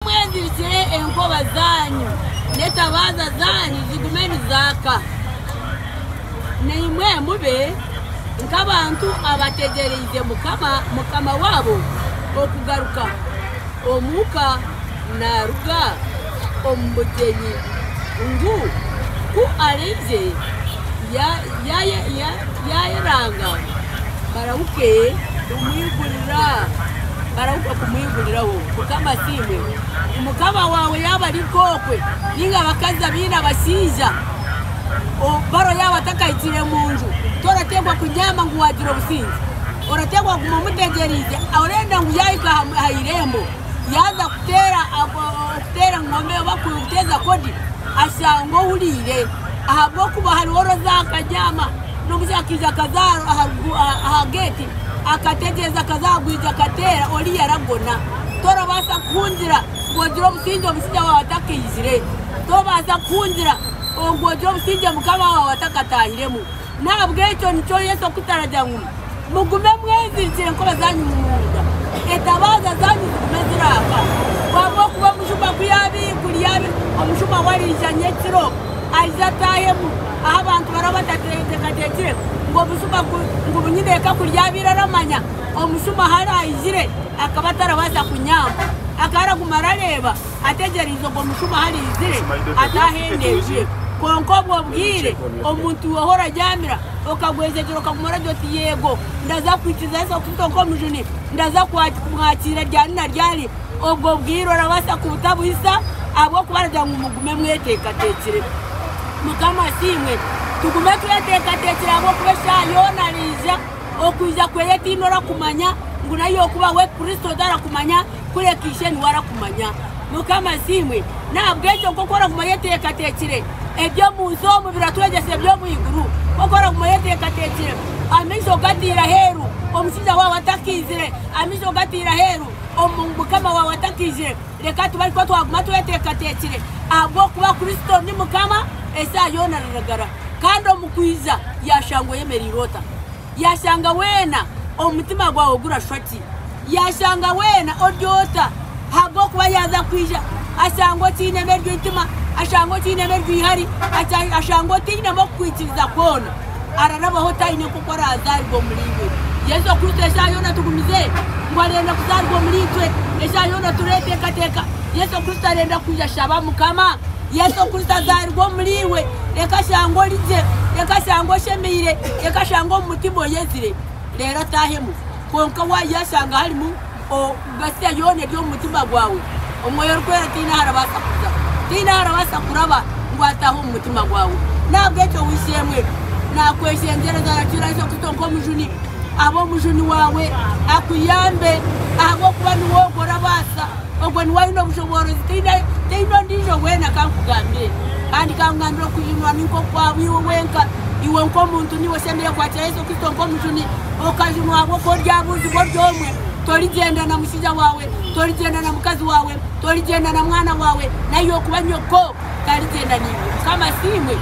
Mwezirikire enkoba zaanyu n'etabaaza zaanyu zigume nizaaka, naimwe mube nk'abantu abategyereize Mukama, Mukama waabo okugaruka, omuka naaruga omu bugyenyi. ngu ku araije yaayeranga barahuke kumwiguriraho. Mukama asiimwe. Mukama waawe yaaba ari nk'okwe, nainga abakazi abaine abashaija, Faro yaaba atakahikire omu nju, torateekwa kubyama ngu waagira obusingye. Orateekwa kuguma omutegyereize, orenda ngu yaahika aha irembo. yaaza kuteera okuteera engoma oba kuteeza kodi ashanga ohuriire ahabw'okuba hariho orooza akagyama n'omushaija akaija akaza aha geeti akategyeza akaza ahaigwija akateera oriya aragona torabaasa kuhungira ngu ogire obusingye omushaija waawe atakaizire tobaasa kuhungira ngu ogire obusingye mukama waawe atakataahiremu. N'ahabw'ekyo nikyo Yesu arikutweta aragira ngu, Mugume mwezirikire enkora zaanyu munonga, etabaaza zaanyu zigume ziraafa. Ahabw'okuba omujuma ku yaaba ei kuri yaaba ei, omujuma we araija nyekiro, aije ataahemu ahu abantu baraba batateekateekire, ngu obujuma ku, ngu bunyineeka ku ryaabaire aramanya omujuma ahu araijire, akaba atarabaasa kunyamba, akaba araguma arareeba. Ategyereize ogwo mushuba haraizire ate ahendezire. Kwonka obwo bwire omuntu weho oraryamira okagwezegyera okaguma oragira oti Yego, ndaza kuhikiriza Yesu Kristo nk'omujuni. Ndaza kumwakiira ryari na ryari. Obwo bwire orabaasa kubutabuhisa ahabw'okuba aragira ngu mugume mweteekateekire. Mukama asiimwe. Tugume tweteekateekire ahabw'okuba eshaaha yoona araija. Okwija kweye tihaine orakumanya ngu nari okubaho Kristo tarakumanya. Kureka ishe niwe arakumanya. Mukama asiimwe. N'ahabw'ekyo nk'oku oraguma oyeteekateekire, eby'omu nsi omu biratwegyesa eby'omu iguru. Nk'oku oraguma oyeteekateekire, amaisho gataire aheeru omushaija waawe atakaizire, amaisho gataire aheeru omu mukama waawe atakaizire. Reka tube ari kwo twaguma tweteekateekire, ahabw'okuba Kristo ni Mukama eshaaha yoona ruragara. Kandi omu kwija yaashangwa oyemereire ota? Yaashanga weena omutima gwawe gurashwa ki? Yaashanga weena ori ota? Ahabw'okuba yaaza kwija ashanga okiinemu eryo itima, ashanga okiinemu eryo ihari, ashanga otainemu okukwikiriza kwona, ararabaho otaine nk'oku araazaaribwa omuriiwe. Yesu Kristo eshaaha yoona tugumize ngu arenda kuzaaribwa omuriitwe. Eshaaha yoona tureeteekateeka Yesu Kristo arenda kwija. Shaba Mukama Yesu okuza azaarirwe omuri iwe, reka ashange ori gye, reka ashange oshemeire, reka ashange omu mutima oyezire, reero ataahemu. Kwonka waaza yashanga harimu Mesia yoona eri omu mutima gwawe, Omwoyo Orikwera taine ahu arabaasa kuza, taine ahu arabaasa kuraba ngu ataahe omu mutima gwawe. N'ahabw'ekyo w'eishe-emwe naakweshengyereza, arakiira aije kuto nk'omujuni, abe omujuni waawe, akuyambe ahabw'okuba niwe ogwo orabaasa. Ogwo niwe aine obushoboorozi, taine ondiijo weena. Ka nkugambire, kandi ka nkugambire, okuhindurwa ni nk'okwabwo iwe wenka. Iwe nk'omuntu niiwe osemeriire kukwatira Yesu Kristo nk'omujuni, okajunwa ahabw'okuba oryabuuzibwa ori omwe. Torigyenda na mushaija waawe, torigyenda na mukazi waawe, torigyenda na mwana waawe, n'ahi'okuba nyoko tarigyenda naiwe. Mukama asiimwe!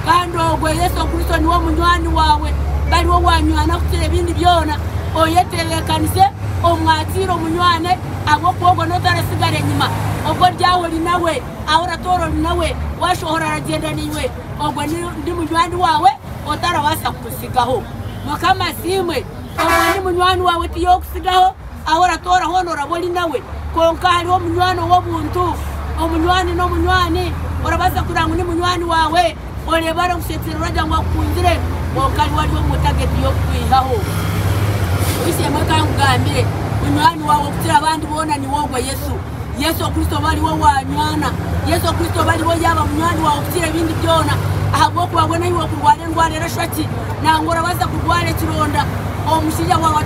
Kandi ogwo Yesu Kristo niwe munywani waawe, bari owanywani akukira ebindi byona. Oyetebeekanise, omwatiire, omunywane. Ahabw'okuba ogwo n'otu aratsigara enyima. Ogwo oryaha ori nawe, ahu oratoora ori nawe, waashohora aragyenda naiwe. Ogwo ni, ndi munywani waawe otarabaasa kuntsigaho. Mukama asiimwe! Ogwo ni munywani waawe ti y'okutsigaho, ahu oratoora hoona oraba ori nawe. Kwonka hariho omunywani ow'obuntu. Omunywani n'omunywani, orabaasa kurora ngu ni munywani waawe. Oreeba arikushetsera oragira ngu akukundire kwonka niwe ari omu tageti y'okukwihaho. Oishemewe ka nkugambire, munywani waawe okukira abandi boona niwe ogwo, Yesu. Yesu Kristo oba ariwe waanywana. Yesu Kristo oba ariwe yaaba munywani waawe okukira ebindi byona. Ahabw'okuba mbwenu ahi orikurwara endwara erashwa ki? Nangwa orabaasa kurwara ekironda, omushaija waawe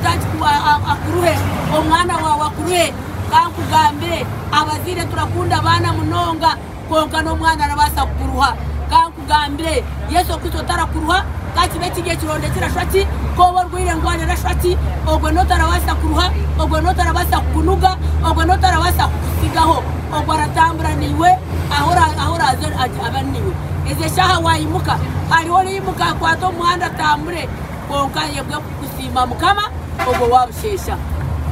akuruhe, omwana waawe akuruhe. Ka nkugambire, abazaire turakunda abaana munonga. kwonka n'omwana arabaasa kukuruha. Ka nkugambire, Yesu okwiitsa otarakuruha, ka kibe kiri ekironda ekirashwa ki, ka obe orwaire endwara erashwa ki, ogwe n'otarabaasa kuruha, ogwe n'otarabaasa kukunuga, ogwe n'otarabaasa kukutsigaho. Ogwe aratambura naiwe ahu ahu oraaze abe ari naiwe. Ezi eshaaha waayimuka, hariho oraimuka akwate omu muhanda atambure, kwonka ayebwe kukusiima Mukama ogwo waabusheesha.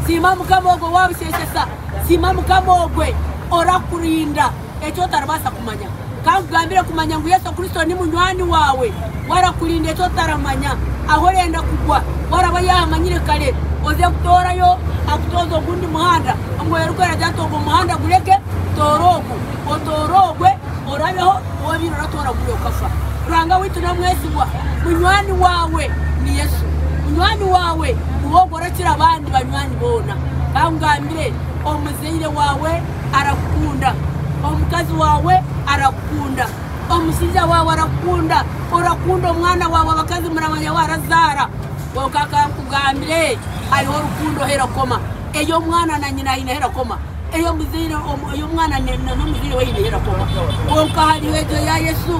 Siima Mukama ogwo waabusheeshesa. Siima Mukama ogwe orakurinda eki otaribaasa kumanya. Ka nkugambire kumanya ngu Yesu Kristo ni munywani waawe. We arakurinda eki otaramanya. Ahu orenda kugwa, we araba yaahamanyire kare. Oze kutoorayo akutooze ogundi muhanda. Omwoyo Orikwera agira ati, Ogwo muhanda gureke, toora ogu. Otoore ogwe, orabeho. Woobiire oratoora guri okafa. Ruhanga waitu n'omwesigwa. Munywani waawe ni Yesu. Munywani waawe niwe ogwo. Orakira abandi banywani boona. Bangambire, Omuzaire waawe arakukunda. Omukazi waawe arakukunda. Omushaija waawe arakukunda. Orakunda omwana waawe, abakazi muramanya waarazaara. Kwonka ka nkugambire, hariho rukundo ahu erakoma. Ey'omwana na nyina haine ahu erakoma. Eyi omuzaire oyi omwana na n'omuzaire we ayineyo erakoma, kwonka hariho egyo ya Yesu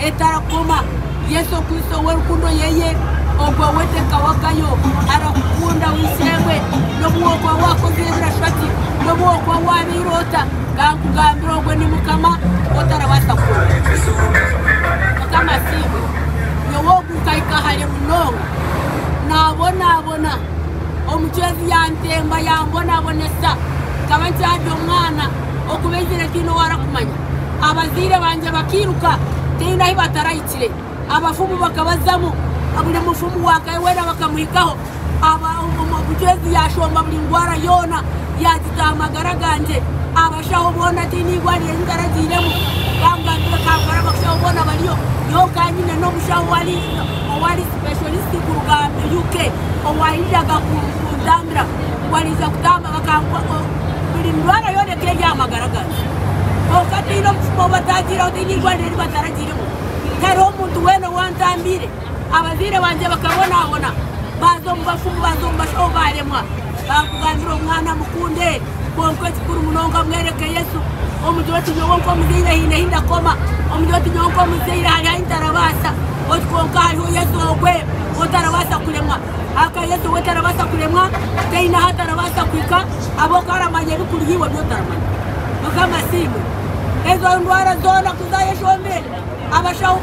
etarakoma. Yesu okwitsa ow'erukundo yeye, ogwo we tekawagayo, arakukunda w'eishe-emwe n'obu wokuba wakozire ebirashwa ki, n'obu wokuba wabaire ota. Kankugambire ogwo ni Mukama otarabaasa kurofa. Mukama asiimwe. Nyowe ogu nkahika hare munonga, nabonabona. Omucwezi yantemba yambonabonesa. Nkaba nkyari omwana oku baizire tihaine ou arikumanya. Abazaire bangye bakairuka tihaine ahu batarahikire. Abafumu bakabazamu, buri mufumu waakahe weena bakamuhikaho. Omucwezi yaashomba buri ndwara yoona, yaagita aha magara gangye. Abashaho boona tihaine eirwariro eri ntaragiiremu. Baamugambira eka nkore abashaho boona bariyo. Nyowe nkaba nyine n'omushaho owa riisho. Specialist kuruga UK owaayiriraga kunzambira ngu ariija kutamba bakanguha ngu buri ndwara yoona ekaba eri aha magara gangye. Kwonka tihaine obucupa obu bataagiireho, tihaine eirwariro eri bataragiiremu. Tihariho muntu weena owantambiire. Abazaire bangye bakabonaabona, baaza omu bafumu, baaza omu bashaho baaremwa. Baakugambira omwana mukunde. Kwonka ekikuru munonga mwereke Yesu omugire oti, Nyowe nk'omuzaire haine ahi ndakoma. Omugire oti, Nyowe nk'omuzaire hariho ahi ntarabaasa. Oti, Kwonka hariho Yesu ogwe ou otarabaasa kuremwa. Ahakuba Yesu ogwe tarabaasa kuremwa, taine ahu atarabaasa kuhika ahabw'okuba aramanya ebikuriho iwe ebi otaramanya. Mukama asiimwe. Ezo ndwara zoona ku zaayeshomire, abashaho.